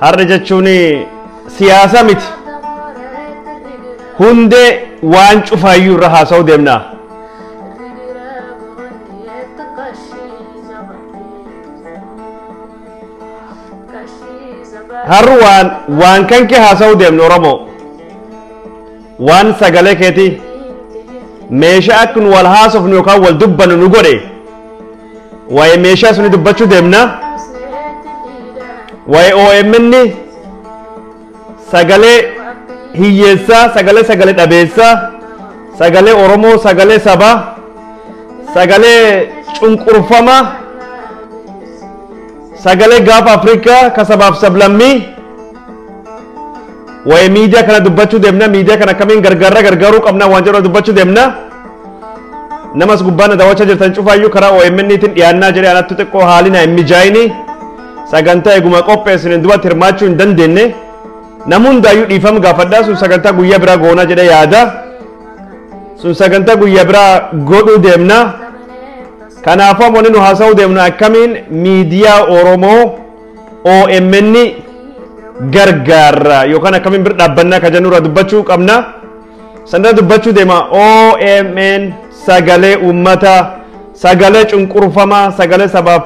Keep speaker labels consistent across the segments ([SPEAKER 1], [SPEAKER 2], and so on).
[SPEAKER 1] Har'a jechuun siyaasa miti. Hundee waan cufaayyuu irra haasa'uu deemna. Har'a waan waan kan kee haasa'uu deemna Oromoo. Waan sagalee keetii meeshaa akka nu wal haasofnu yookaan wal dubbannu nu godhe. Waa'ee meeshaa suni dubbachuu deemna. Waa'ee OMN sagalee hiyyeessaa, sagalee sagalee dhabeessaa, sagalee Oromoo, sagalee sabaa, sagalee cunqurfamaa, sagalee gaafa Afrikaa ka sabaaf sablammii. Waa'ee miidiyaa kana dubbachuu deemna. Miidiyaa kana akkamiin gargaarra gargaaruu qabna waan jedhu dubbachuu deemna. Nama as gubbaa na daawwachaa jirtan cufaayyuu karaa OMN tiin dhiyaannaa jedhee anattu xiqqoo haalli na hin mijaa'ini sagantaa eeguma qopheessine duratti hirmaachuu hin dandeenye namni hundaayyuu dhiifama gaafadhaa sun sagantaa guyyaa biraa goonaa jedhee yaada sun sagantaa guyyaa biraa godhuu deemna kanaafuu amma wanni nu haasa'uu deemnu akkamiin miidiyaa Oromoo OMN gargaarra yookaan akkamiin bira dhaabbannaa kan jennu irraa dubbachuu qabna. Sanirra dubbachuu deema OMN sagalee uummata sagalee cunqurfamaa sagalee sabaaf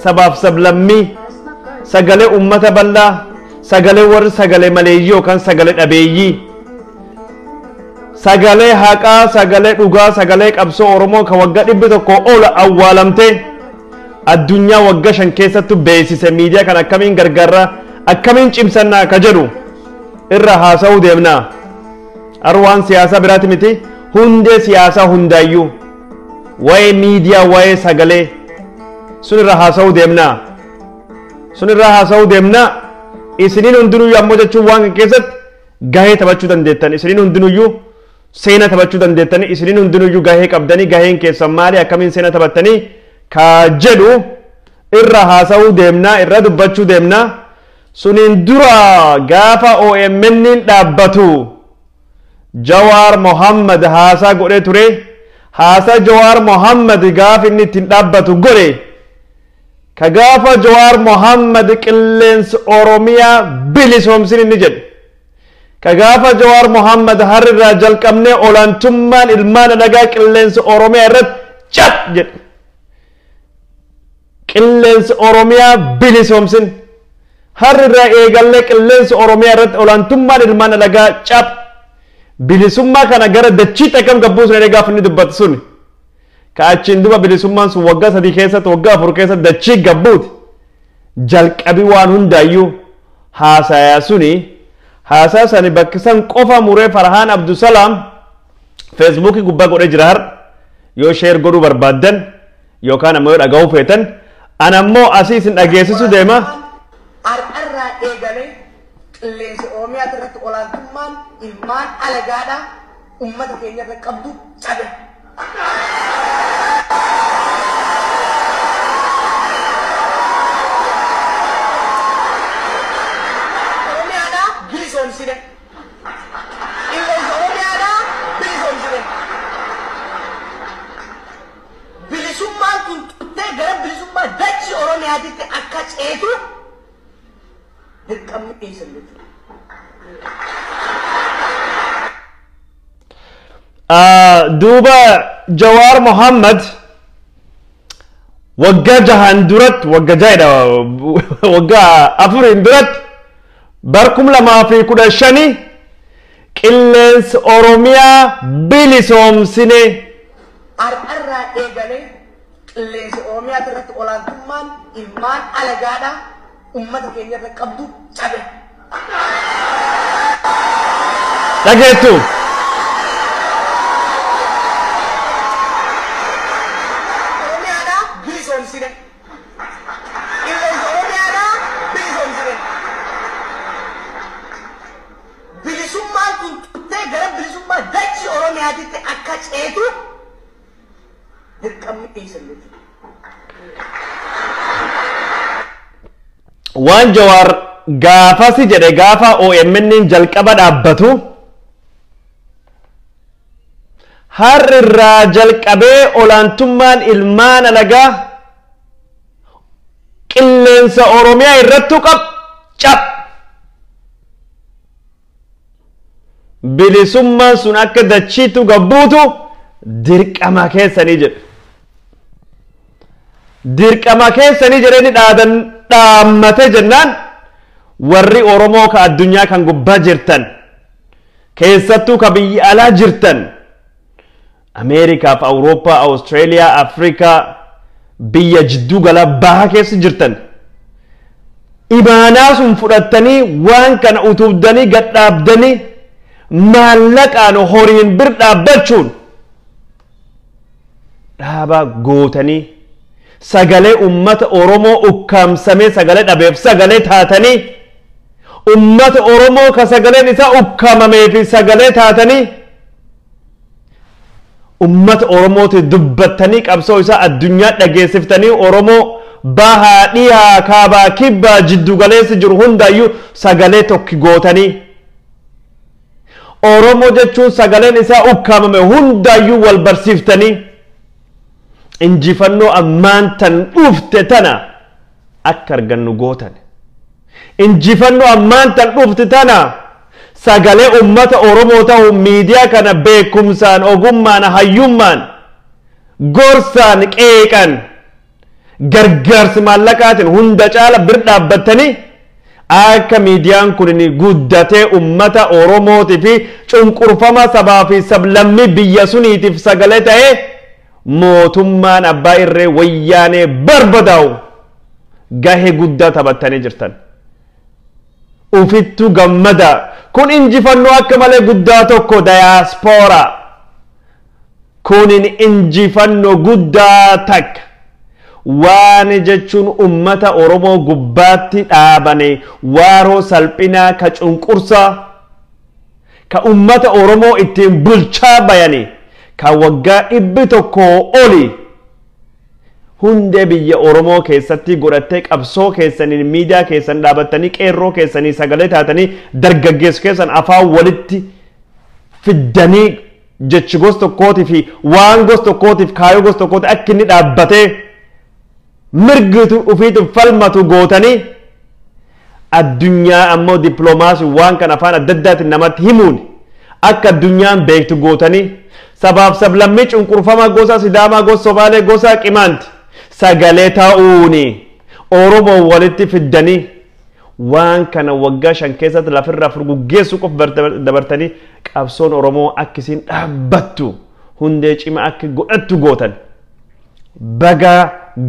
[SPEAKER 1] sabaaf sablammii sagalee uummata bal'aa sagalee warri sagalee maleeyyii yookaan sagalee dhabeeyyii sagalee haqaa sagalee dhugaa sagalee qabsoo oromoo kan waggaa dhibbi tokko ol awwaalamte addunyaa waggaa shan keessattu beeksise miidiyaa kan akkamiin gargaarra akkamiin cimsannaa ka jedhu irra haasa'uu deemna. Arwaan siyaasaa biraati miti hundee siyaasaa hundaayyuu waa'ee miidiyaa waa'ee sagalee sun irra haasa'uu deemna. Sun irra haasa'uu deemna isiniin hundinuyyuu ammoo jechuun waan kan keessatti gahee taphachuu dandeettan isiniin hundinuyyuu seena taphachuu dandeettanii isiniin hundinuyyuu gahee qabdanii gaheen keessan maali akkamiin seena taphattanii kaa jedhu irra haasa'uu deemna irra dubbachuu deemna. Suniin dura gaafa OMN'n dhaabbatu Jawaar Mohammad haasaa godhee ture. Haasaa Jawaar Mohammad gaafa inni ittiin dhaabbatu godhe. Ka gaafa Jawaar Mohammad qilleensa Oromiyaa bilisoomsin inni jedhe. Ka gaafa Jawaar Mohammad harrirraa jalqabnee olaantummaan ilmaan alagaa qilleensa Oromiyaa irratti cat jedhe. Qilleensa Oromiyaa bilisoomsin! Har'a irraa eegallee qilleensa Oromiyaa irratti olaantummaan ilmaan alagaa cap! Bilisummaa kana gara dachiitti akkam gad buusna jedhee gaafa inni dubbatu suni. Ka achiin duba bilisummaan sun waggaa sadii keessatti waggaa afur keessatti dachii gad buuti. Jalqabi waan hundaayyuu haasayaa suni haasaa sani bakki san qofa muree Farhaan Abdusalaam feesbuukii gubbaa godhee jira har'a. Yoo sheer godhuu barbaaddan Yookaan ammoo yoo dhagahuu feetan an ammoo asii isin dhageessisu deema. Har'arraa
[SPEAKER 2] eegalee qilleensa Oromiyaa irratti olaantummaan ilmaan alagaadhaa uummata keenya irra qabdu cabe. Oromiyaadhaa bilisoomsine. Qilleensa Oromiyaadhaa bilisoomsine. Bilisummaan kun turtee gara bilisummaa dachii Oromiyaatitti akka ceetu dirqamni dhiyeessan
[SPEAKER 1] jechuudha. duuba jawaar mohammad waggaa jahaan duratti wagga jaadha waggaa afuriin duratti bar kum lamaa fi kudha shanii qilleensa oromiyaa bilisoomsine
[SPEAKER 2] Har'arraa eegalee qilleensa Oromiyaati irratti olaantummaan ilmaan alagaadhaa ummata keenya irra qabdu cabe.
[SPEAKER 1] Dhageettu!
[SPEAKER 2] Oromiyaadhaa bilisoomsine. Qilleensa Oromiyaadhaa bilisoomsine. Bilisummaan kun turtee gara bilisummaa dachii Oromiyaatitti akka ceetu dirqamni eessan
[SPEAKER 1] jechuudha. Waan Jawaar gaafasi jedhe gaafa OMN'n jalqaba dhaabbatu har'irraa jalqabee olaantummaan ilmaan alagaa qilleensa Oromiyaa irrattu qab cab. Bilisummaan sun akka dachiitu gabbuutu dirqama keessanii jedhe. Dirqama keessanii jedhanii dhaadan dhaammate jennaan warri Oromoo ka addunyaa kan gubbaa jirtan keessattuu ka biyya alaa jirtan Ameerikaaf Awurooppaa, Awustreeliyaa, Afrikaa biyya jidduu galaa baha keessa jirtan imaanaa sun fudhattanii waan kana utubdanii gad dhaabdanii maallaqaan horiin bir dhaabbachuun dhaabaa gootanii sagalee ummata Oromoo ukkaamsamee sagalee dhabeef sagalee taatanii ummata Oromoo ka sagaleen isaa ukkaamamee fi sagalee taatanii ummata oromooti dubbattanii qabsoo isaa addunyaa dhageessiftanii oromoo bahaa dhiyaa kaabaa kibbaa jiddu galeessi jiru hundaayyuu sagalee tokki gootanii oromoo jechuun sagaleen isaa ukkaamame hundaayyuu wal barsiiftanii injifannoo ammaan tan dhufte tana akka argannu gootan. Injifannoo ammaan tan dhufte tana sagalee ummata Oromoo tahuun miidiyaa kana beekumsaan, ogummaan, hayyummaan, gorsaan, qeeqan, gargaarsi maallaqaatiin hunda caala bir dhaabbattanii akka miidiyaan kun guddatee ummata Oromootii fi cunqurfamaa sabaa fi sablammii biyya suniitiif sagalee ta'ee mootummaan abbaa irree wayyaanee barbadaa'u gahee guddaa taphattanii jirtan. Ufittuu gammadaa kun injifannoo akka malee guddaa tokko dayaaspooraa kunin injifannoo guddaa takka waan jechuun ummata Oromoo gubbaatti dhaabane waaroo salphinaa ka cunqursaa ka ummata Oromoo ittiin bulchaa bayani ka waggaa dhibbi tokkoo oli hundee biyya Oromoo keessatti godhattee qabsoo keessaniin miidiyaa keessan dhaabattanii qeerroo keessanii sagalee taatanii dargaggeessu keessan afaan walitti fiddanii jechi gos tokkootii fi waan gos tokkootiif kaayoo gos tokkooti akka inni dhaabbatee mirgi ufiitiif falmatu gootanii addunyaa ammoo dippiloomaasiin waan kan afaan adda addaatiin namatti himuun akka addunyaan beektu gootanii sabaaf sablammii cunqurfamaa gosa sidaamaa gosa somaalee gosa qimaanti sagalee ta'uuni oromoo walitti fiddanii waan kana waggaa shan keessatti lafirraa furguggeessuu qof dabartanii qabsoon oromoo akkisiin dhaabbattu hundee cima akka godhattu gootan. baga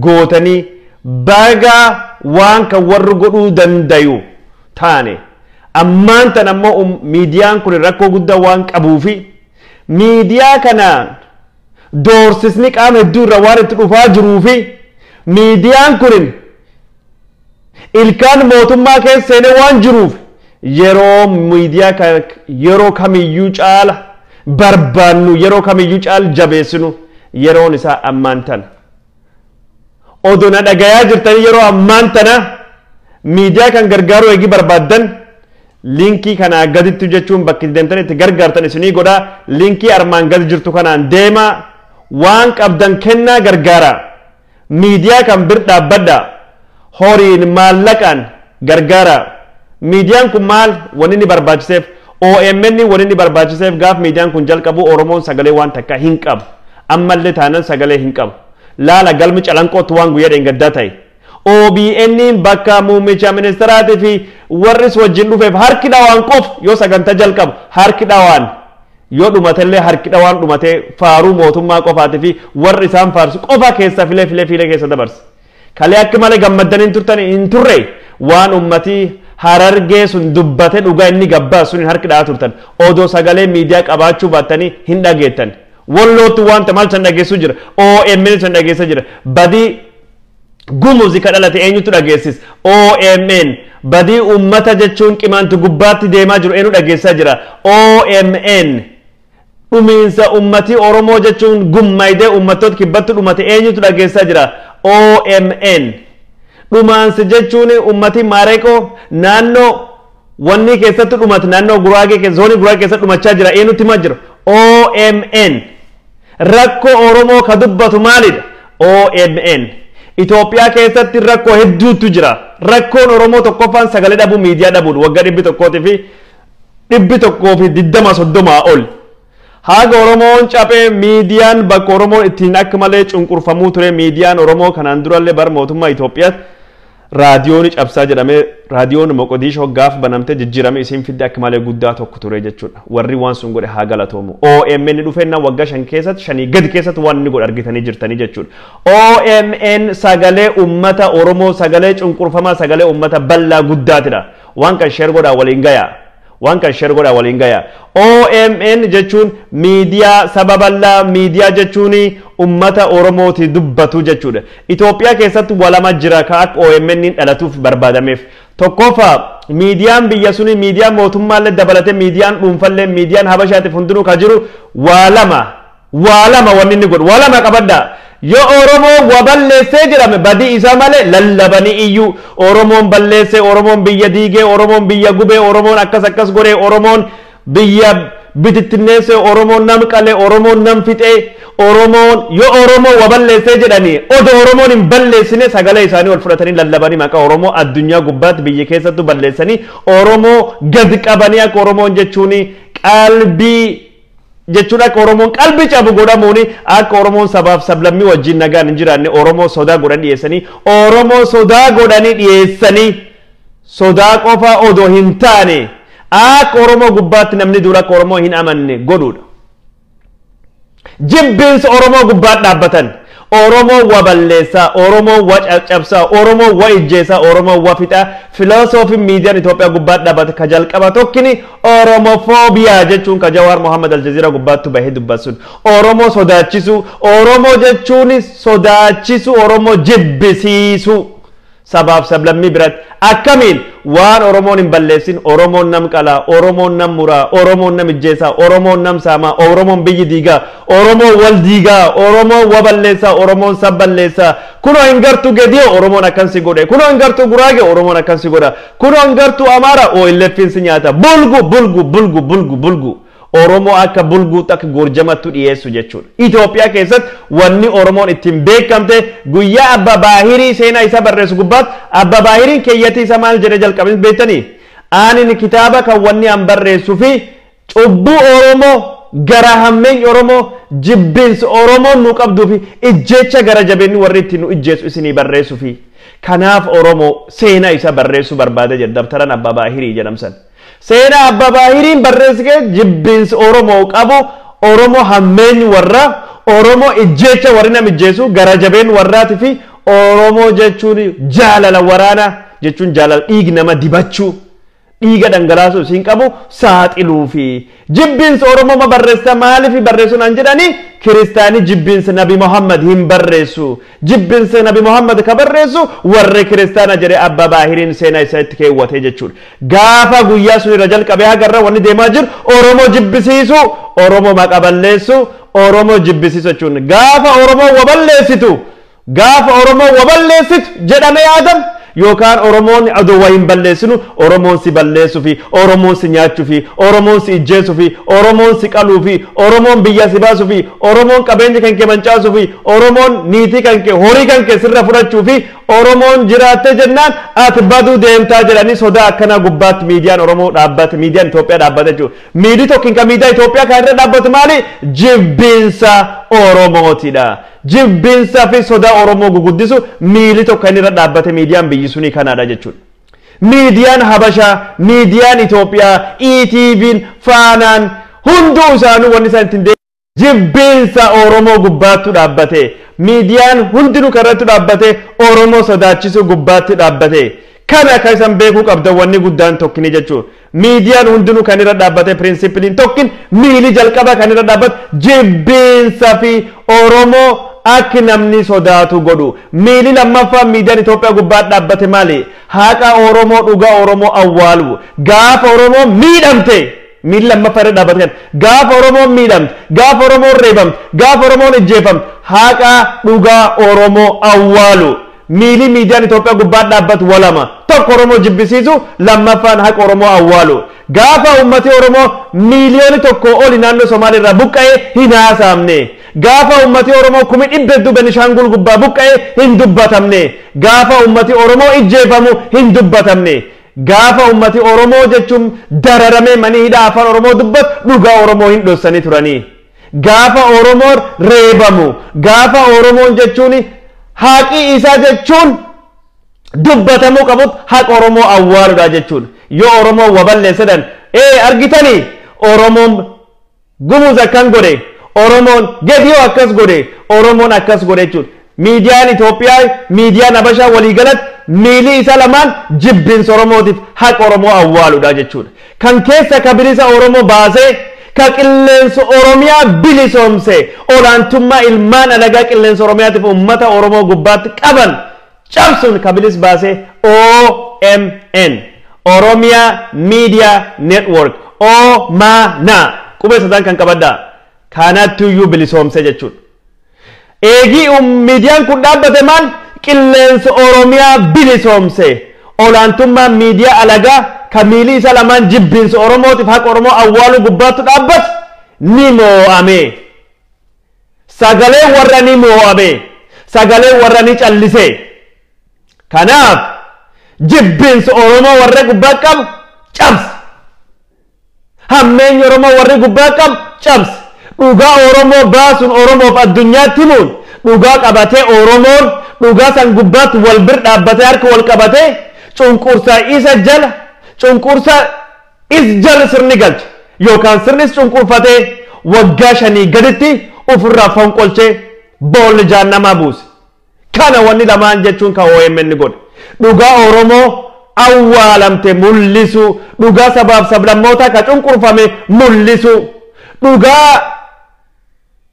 [SPEAKER 1] gootanii baga waan kan warri godhuu dandayu taane ammaan tan ammoo um- miidiyaan kun rakkoo guddaa waan qabuufi miidiyaa kanaan doorsisni qaama hedduu irra waan itti dhufaa jiruufi miidiyaan kun Ilkaan mootummaa keessa seenee waan jiruuf yeroo miidiyaa kan yeroo kamiyyuu caala barbaannu yeroo kamiyyuu caal jabeessinu yeroon isaa ammaan tana. Odoo na dhagayaa jirtanii yeroo ammaan tana miidiyaa kan gargaaruu eegi barbaaddan liinkii kanaa gaditti jechuun bakki deemtan itti gargaartan isinii godha liinkii armaan gadi jirtu kanaan deemaa waan qabdan kennaa gargaaraa. Miidiyaa kan bir dhaabbadhaa. Horiin, maallaqaan, gargaaraa. Miidiyaan kun maal wan inni barbaachiseef? OMN wan inni barbaachiseef gaaf miidiyaan kun jalqabu Oromoon sagalee waan takkaa hin qabu. Ammallee taanan sagalee hin qabu. Laala galmi calanqootti waan guyyaa dheengaddaa ta'e. OBNn bakka muummicha ministeeraatii fi warris wajjin dhufeef harki dhawaan qofa yoo sagantaa jalqabu harki dhawaan Yoo dhumatellee harki dhawaan dhumatee faaruu mootummaa qofaati fi warri isaan faarsu qofa keessa filee filee filee keessa dabarse. Kalee akka malee gammaddanii hin turtan hin turre waan ummatii harargee sun dubbate dhugaa inni gabbaa sun harki dha'aa turtan odoo sagalee miidiyaa qabaachuu baattanii hin dhageettan. Wallootti wanta maal san dhageessuu jira OMN san dhageessa jira badii Gumuzi ka dhalate eenyutu dhageessis? OMN badii uummata jechuun qimaanti gubbaatti deemaa jiru eenyu dhageessaa jira? OMN dhumiinsa uummatii Oromoo jechuun gummaydee uummattoota kibbatti dhumate eenyutu dhageessaa jira? OMN dhumaansi jechuun uummatii Maareeqoo naannoo Wannii keessatti dhumat naannoo Guraagee keessa zoonii Guraagee keessatti dhumachaa jira eenyutti himaa jira OMN rakkoo Oromoo ka dubbatu maalidha OMN Itoophiyaa keessatti rakkoo hedduutu jira rakkoon Oromoo tokkoffaan sagalee dhabuu miidiyaa dhabuudha waggaa dhibbi tokkootii fi dhibbi tokkoo fi digdama soddomaa ol Haaga Oromoon caphe miidiyaan bakka Oromoon ittiin akka malee cunqurfamuu ture miidiyaan Oromoo kanaan durallee bara mootummaa Itoophiyaatti raadiyooni cabsaa jedhamee raadiyoon Moqodiishoo gaaf banamte jijjiirame isiin fidde akka malee guddaa tokko ture jechuudha. Warri waan sun godhe haa galatoomu. OMN dhufeenna waggaa shan keessatti shanii gadi keessatti waan inni godhe argitanii jirtanii jechuudha. OMN sagalee uummata Oromoo sagalee cunqurfamaa sagalee uummata bal'aa guddaatidha. Waan kan sheer godhaa waliin gayaa. Waan kan sher godhaa waliin gayaa. OMN jechuun miidiyaa saba bal'aa miidiyaa jechuun ummata oromooti dubbatu jechuudha. Itoophiyaa keessatti walama jira ka akka OMN dhalatuuf barbaadameef. Tokkofa miidiyaan biyya suni miidiyaa mootummaallee dabalate miidiyaan dhuunfallee miidiyaan habashaatiif hundinuu ka jiru waa lama. Waa lama wanni inni godhu. Waa lama qabadhaa. Yoo Oromoon wa balleessee jedhame badii isaa malee lallabanii iyyuu Oromoon balleessee, Oromoon biyya diigee, Oromoon biyya gubee, Oromoon akkas akkas godhee, Oromoon biyya bitittinneessee, Oromoon nam qalee, Oromoon nam fixee, Oromoon yoo Oromoon wa balleessee jedhanii odoo Oromoon hin balleessine sagalee isaanii ol fudhatanii lallabanii maqaa Oromoo addunyaa gubbaatti biyya keessattuu balleessanii Oromoo gad qabanii akka Oromoon jechuun qalbii jechuun akka Oromoon qalbi cabu godhamuun akka Oromoon sabaaf sablammii wajjin nagaan hin jiraanne Oromoo sodaa godhan dhiyeessanii Oromoo sodaa godhanii dhiyeessanii sodaa qofa odoo hin taane akka Oromoo gubbaatti namni dura akka Oromoo hin amanne godhuudha. Jibbiinsa Oromoo gubbaatti dhaabbatan Oromoon wa balleessa, Oromoon wa caccabsa, Oromoon wa ijjeesa, Oromoon wa fixa, Filosoofin miidiyan Itoophiyaa gubbaat dhabate ka jalqaba tokkini Oromophobia jechuun ka Jawaar Mohammed Aljazeera gubbaattu bahe dubbat sun. Oromoo sodaachisu, Oromoo jechuun sodaachisu, Oromoo jibbisiisu. sabaaf sablammii biratti akkamiin waan Oromoon hin balleessin Oromoon nam qalaa, Oromoon nam muraa, Oromoon nam ijjeesaa, Oromoon nam saamaa, Oromoon biyyi diigaa, Oromoon wal diigaa, Oromoon wa balleessaa, Oromoon sab balleessaa, kunoo hin gartuu Gediyo Oromoon akkan si godhe, kunoo hin gartuu Guraage Oromoon akkan si godha, kunoo hin gartuu Amaara OLFn si nyaata, bulgu bulgu bulgu bulgu bulgu. Oromoo akka bulguu takk gorjamattu dhiyeessu jechuudha. Itoophiyaa keessatti wanni Oromoon ittiin beekamte guyyaa Abba Baahirii seenaa isaa barreessu gubbaatti Abba Baahiriin keeyyatii isaa maal jedhee jalqabe beektanii? Aanin kitaaba kan wanni an barreessu fi cubbuu Oromoo garaa hammeeny Oromoo jibbinsi Oromoon nu qabduu fi ijjeecha gara jabeenni warri ittiin nu ijjeessu isinii barreessu fi kanaaf Oromoo seenaa isaa barreessuu barbaada jedha dabtaran Abba Baahirii jedhamsan. Seenaa Abbaa Baahiriin barreessi kee jibbiinsi Oromoo qabu Oromoo hammeenyi warraa, Oromoo ijjeecha warri nam ijjeesu, garaa jabeen warraati fi Oromoo jechuun jaalala waraanaa jechuun jaalala dhiig nama dibachuu, dhiiga dhangalaasuu isiin qabu saaxiluufi. Jibbins oromoma barressa maalifi barresu nan jedhani kiristani jibbins nabi Muhammad hin barresu jibbins nabi Muhammad ka barresu warri kiristana jedhe abba baahirin seena isa itti keewwate jechudha gaafa guyyaa sun irra jalqabe haga irra wanni deemaa jiru oromo jibbisiisu oromo maqa balleessu oromo jibbisiisu jechuun gaafa oromo wa balleessitu Gaafa Oromoon wa balleessitu jedhame yaadam yookaan Oromoon adoo wa hin balleessinu Oromoon si balleessufi, Oromoon si nyaachufi, Oromoon si ijjeessufi, Oromoon si qaluufi, Oromoon biyyaa si baasufi, Oromoon qabeenya kan kee mancaasufi, Oromoon niitii kan kee, horii kan kee sirra fudhachuufi Oromoon jiraattee jennaan ati baduu deemtaa jedhanii sodaa akkanaa gubbaatti miidiyaan Oromoo dhaabbate, miidiyaan Itoophiyaa dhaabbate jechuudha. Miidii tokkin kan miidiyaa Itoophiyaa kana irra dhaabbatu maali? Jibbiinsa Oromootidha. Jibbiinsa fi sodaa Oromoo guguddisu miili tokko inni irra dhaabbate miidiyaan biyyi sunii kanaadha jechuudha. Miidiyaan Habashaa, miidiyaan Itoophiyaa, ETVn, Faanaan hunduu isaanuu wanni isaan ittiin deemu jibbiinsa Oromoo gubbaattu dhaabbate. Miidiyaan hundinuu kan irratti dhaabbate Oromoo sodaachisuu gubbaatti dhaabbate. Kana akka isan beekuu qabdan wanni guddaan tokkini jechuudha. Miidiyaan hundinuu kan irra dhaabbate pirinsipiliin tokkin miili jalqaba kan irra dhaabbatu jibbiinsa fi Oromoo akki namni sodaatu godhu. Miili lammaffaan miidiyaan Itoophiyaa gubbaa dhaabbate maali? Haqa Oromoo dhugaa Oromoo awwaalu. Gaafa Oromoo miidhamte miili lammaffaa irra dhaabbate kan gaafa Oromoon miidhamte, gaafa Oromoon reebamte, gaafa Oromoon ijjeefamte haqa dhugaa Oromoo awwaalu. Miilii miidiyaan Itoophiyaa gubbaa dhaabbatu wa lama. Tokko Oromoo jibbisiisu, lammaffaan haqa Oromoo awwaalu. Gaafa uummati Oromoo miiliyooni tokkoo oli naannoo Somaalee irraa buqqa'e hin haasaamne. Gaafa uummati Oromoo kumi dhibba hedduu Benishaanguul gubbaa buqqa'e hin dubbatamne. Gaafa uummati Oromoo ijjeefamu hin dubbatamne. Gaafa uummati Oromoo jechuun dararamee manii hidhaa afaan Oromoo dubbatu dhugaa Oromoo hin dhossanii turanii. Gaafa Oromoon reebamu, gaafa Oromoon jechuun haqi isaa jechuun dubbatamuu qabutti haqa Oromoo awwaaludha jechuudha. Yoo Oromoon wa balleessedhan ee argitani Oromoon Gumuz akkan godhe, Oromoon Gediyoo akkas godhe, Oromoon akkas godhe jechuudha. Miidiyaan Itoophiyaafi miidiyaan Habashaa waliigalatti miilii isaa lamaan jibbinsa Oromootiif haqa Oromoo awwaaludha jechuudha. Kan keessa ka bilisa Oromoo baasee, ka qilleensa Oromiyaa bilisoomse, olaantummaa ilmaan alagaa qilleensa Oromiyaatiif uummata Oromoo gubbaatti qaban cabsuun ka bilis baase OMN, Oromia Media Network, OMANA, qubee sadaan kan qabadhaa. Kaanaattuyyuu bilisoomse jechuudha. Eegii miidiyaan kun dhaabbate maal qilleensa Oromiyaa bilisoomse. Olaantummaan miidiyaa alagaa ka miilii isa lamaan jibbiinsa Oromootiif haqa Oromoo awwaaluu gubbaattu dhaabbate ni moo'ame. Sagaleen warra ni moo'ame. Sagaleen warra ni callise. Kanaaf jibbiinsa Oromoo warra gubbaa qabu cabse. Hammeenyi Oromoo warri gubbaa qabu cabse. Dhugaa Oromoo baasuun Oromoof addunyaatti himuun dhugaa qabatee Oromoon dhugaa san gubbaatti wal bir dhaabbatee harka wal qabatee cunqursaa isa jala cunqursaa is jala sirni galche yookaan sirnis cunqurfatee waggaa shanii gaditti ofirraa fonqolchee boolli jaannamaa buuse. Kana wanni lamaan jechuun ka omn godhe dhugaa Oromoo awwaalamte mullisuu, dhugaa sabaaf sablammootaa ka cunqurfame mullisuu, dhugaa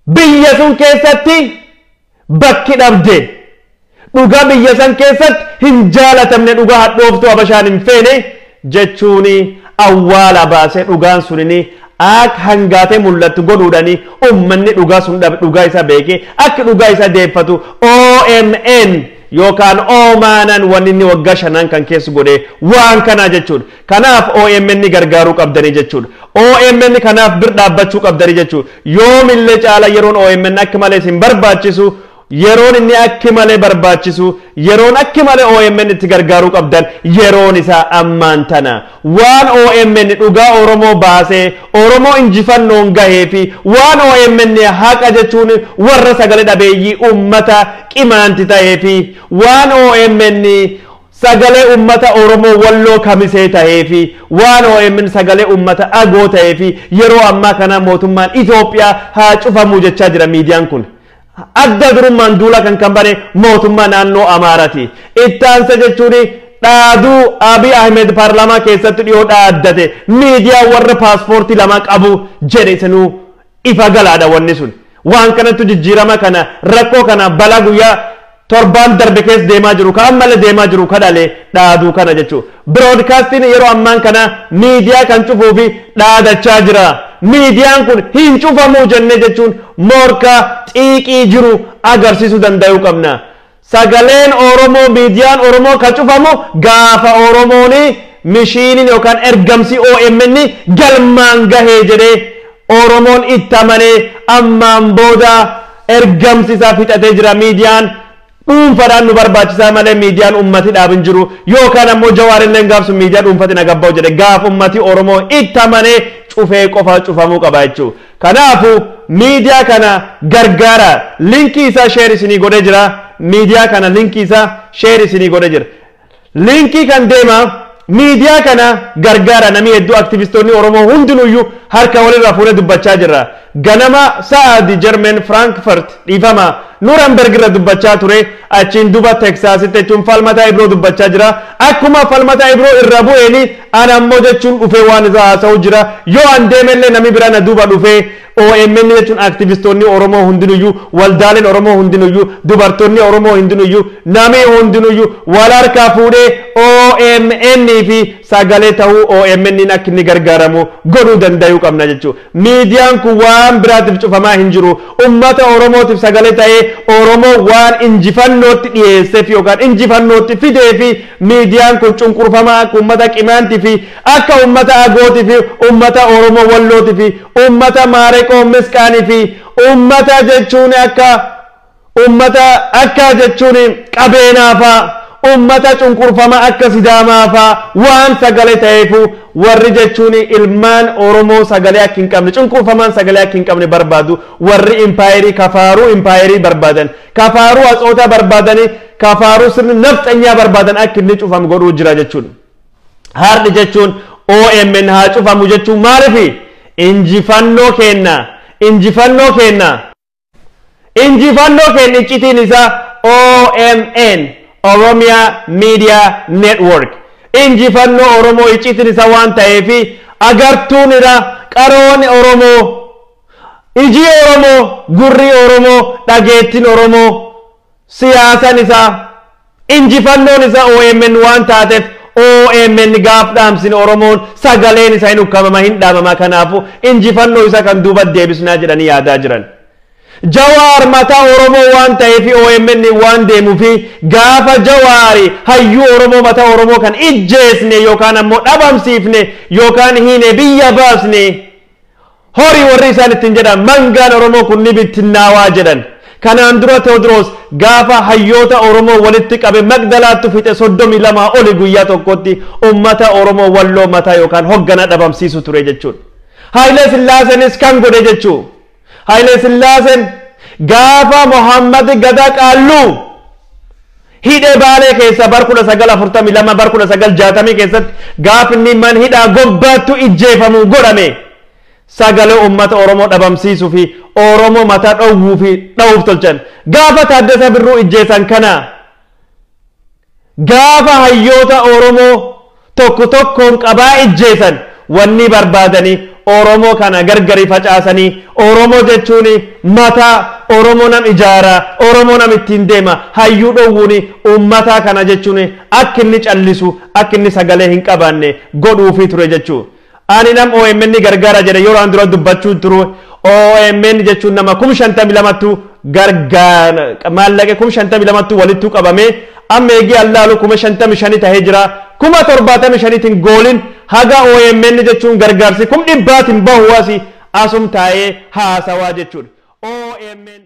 [SPEAKER 1] biyya sun keessatti bakki dhabde, dhugaa biyya san keessatti hin jaalatamne, dhugaa hadhooftuu Habashaan hin feene, jechuuni awwaala baase dhugaan sunini aak hangaate mul'attu godhuudhani ummanni dhugaa sun dhabe dhugaa isa beeke akk dhugaa isa deeffatu omn yookaan omnn wanni inni waggaa shanaan kan keess godhe waan kanaa jechuudha kanaaf omn gargaaruu qabdani jechuudha omn kanaaf bir dhaabbachuu qabdani jechuudha yoomillee caala yeroon omn akk malee isin barbaachisu Yeroon inni akki malee barbaachisuu, yeroon akki malee omn itti gargaaruu qabdan yeroon isaa ammaan tana. Waan omn dhugaa Oromoo baasee, Oromoo injifannoon gahee fi waan omn haqa jechuun warra sagale dhabeeyyii ummata Qimaanti tahee fi waan omn sagalee ummata Oromoo Walloo Kamisee tahee fi waan omn sagalee ummata Agoo tahee fi yeroo ammaa kana mootummaan Itoophiyaa haa cufamuu jechaa jira miidiyaan kun. Adda durummaan duula kan kan bane mootummaa naannoo Amaarati. Ittaansa jechuun dhaaduu Abiy Ahmed paarlaamaa keessatti dhiyoo dhaaddate miidiyaa warra paaspoortii lamaa qabu jedhe isinuu ifa galaadha wanni sun. Waan kanattu jijjiirama kana rakkoo kana balaa guyyaa torbaan darbe keessa deemaa jiru ka ammalle deemaa jiru ka dhale dhaaduu kana jechuu biroodkaastiin yeroo ammaan kana miidiyaa kan cufuu fi dhaadachaa jira miidiyaan kun hin cufamuu jenne jechuun morkaa xiiqii jiru agarsiisuu danda'uu qabna sagaleen oromoo miidiyaan oromoo kan cufamu gaafa oromooni mishiiniin yookaan ergamsi omn galmaan gahee jedhee oromoon itti amanee ammaan booda Ergamsi isaa fixatee jira miidiyaan dhuunfadhaan nu barbaachisaa malee miidiyaan ummati dhaab hin jiru yookaan ammoo jawaar illeen gaaf sun miidiyaa dhuunfati na gabba'u jedhe gaaf ummati oromoo itti amanee cufee qofa cufamuu qaba jechuu kanaafu miidiyaa kana gargaara linkii isaa sheer isinii godhee jira miidiyaa kana linkii isaa sheer isinii godhee jira Liinkii kan deemaa miidiyaa kana gargaara namii hedduu aktivistoonni Oromoo hundinuyyuu harka walirraa fuune dubbachaa jirra. Ganama sa'aadi German Frankfurt dhiifama Nuremberg irra dubbachaa ture achiin duba Texasitti jechuun falmataa Ibroo dubbachaa jira. Akkuma falmataa Ibroo irra bu'eeni ana ammoo jechuun dhufee waan isaa haasa'u jira. Yoo an deemellee nami bira na duuba dhufee OMN jechuun aktivistoonni Oromoo hundinuyyuu, waldaaleen Oromoo hundinuyyuu, dubartoonni Oromoo hindinuyyuu, namii hundinuyyuu wal harkaa fuudhee OMN fi sagalee tahuu OMNn akka inni gargaaramu godhuu dandayuu qabna jechuu. Miidiyaan kun waan biraatif cufamaa hin jiru. Ummata Oromootif sagalee tahee Oromoo waan injifannootti dhiheessef yookaan injifannootti fideefi miidiyaan kun cunqurfamaa akka ummata Qimaanti fi Akka ummata Agooti fi ummata Oromo Wallooti fi ummata Maareqoo Misqaani fi ummata jechuun akka ummata akka jechuun Qabeenaa faa ummata cunqurfama akka Sidaamaa faa waan sagale taheefu warri jechuun ilmaan Oromo sagale akk hin qabne cunqurfamaan sagale akk hin qabne barbaadu warri Impayerii kafaaruu Impayerii barbaadan kafaaruu Atsootaa barbaadani kafaaruu sirni Nafxanyaa barbaadan akk inni cufam godhuu jira jechuun. Hard jechuun OMN haa cufamu jechuun maalifi? Injifannoo keenna! Injifannoo keenna! Injifannoo keenna iccitiin isaa OMN, Oromia Media Network. Injifannoo Oromoo iccitiin isaa waan ta'eefi agartuun ira qaroon Oromoo, ijii Oromoo, gurrii Oromoo, dhageettiin Oromoo Siyaasan isaa, injifannoon isa omn waan taatef omn gaaf dhaamsine Oromoon sagaleen isa hin ukkamama hin dhaamama kanaafu injifannoo isa kan duubat deebisnaa jedhanii yaadaa jiran. Jawaar mataa Oromoo waan ta'eefi omn waan deemufi gaafa Jawaari hayyuu Oromoo mataa Oromoo kan ijjeesne yookaan ammoo dhabamsiifne yookaan hiine biyya baasne Horii warri isaan ittiin jedhan mangaan Oromoo kun ni bittinnaawaa jedhan. Kanaan dura Teewodiroos gaafa hayyoota Oromoo walitti qabe Maqdalaattu fixe 32 oli guyyaa tokkotti ummata Oromoo Walloo mataa yookaan hoggana dhabamsiisu ture jechuudha. Haayilee Sillaaseenis kan godhe jechuu. Haayilee Sillaaseen gaafa Mohaammed Gadaa Qaalluu Hidhe Baalee keessa bar 1942 bar 1960 keessatti gaafni man hidhaa gobbaattu ijjeefamu godhame sagale ummata Oromoo dhabamsiisu fi Oromoo mata dhowwuu fi dhawuuf tolchan. Gaafa Taaddasa Birruu ijjeesan kana gaafa hayyoota Oromoo Tokko tokkoon qabaa ijjeesan wannii barbaadani oromoo kana gargari facaasani oromoo jechuuni mataa oromoo nam ijaara oromoo nam ittiin deema hayyuu dhowwuuni ummataa kana jechuuni akka inni callisu akka inni sagalee hin qabaanne godhuufii ture jechuudha. Ani nam omn gargara jedhe yeroan dura dubbachun turu omn jechun nama kum shantami lamattu garga maallaqe kum shantami lamattu walittu qabame amma eegi an laalu kuma shantami shani tahe jira kuma torbaatami shanitin goolin haga omn jechun gargaarsi kum dhibbaatin bahu asi asum taa'ee haasawaa jechudha omn